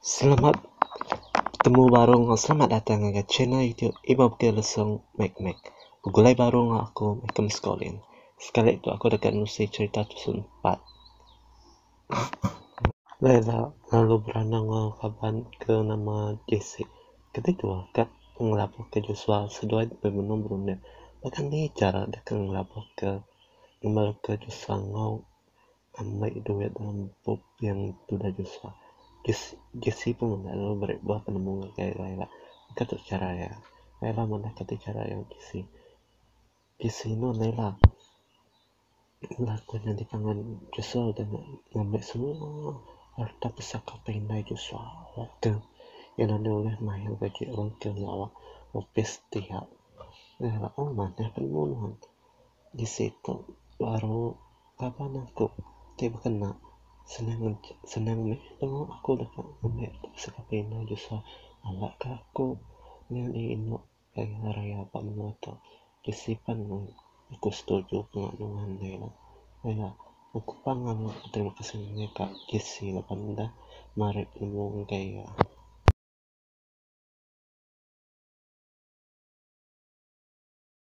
Selamat betemu baru enggau selamat datang ngagai channel YouTube Iban Putih Lesung Mek Mek. Begulai baru enggau aku meh ke Meskoling. Sekali tu aku deka nusi cherita tusun empat. Laila lalu beranang enggau kaban ke nama Jesse. Kadi tu ka ngelabuhka Josua seduai debei menung berunding. Baka ni chara deka ngelabuhka ngembarka Josua enggau. Ambai duit dalam bup yang tudah Joshua. Jesse pun meda lalu meri buah penemu ngagai Kayla ila. Mega tu chara iya. Kayla manah kati chara iya ngagai Jesse. Jesse inu enda ila. Ila ku nyadi pangan Joshua udah enda ngambi semua harta pusaka ke indai Joshua. Ila tu iya enda ulih mayar gaji orang ke nyawa opis ti iya. Ila manah penemu nuan. Bisi tu baru kaban aku ti bekena senang aja senang meh temu aku deka ngembi sekeping indu Joshua alakka aku nyadi indu ari raya ba menua tu bisi pen aku setuju penga nuan deh ila pia aku pan ngaga beterima kasih ngena ka JC laban deh marik nemu enggai iya.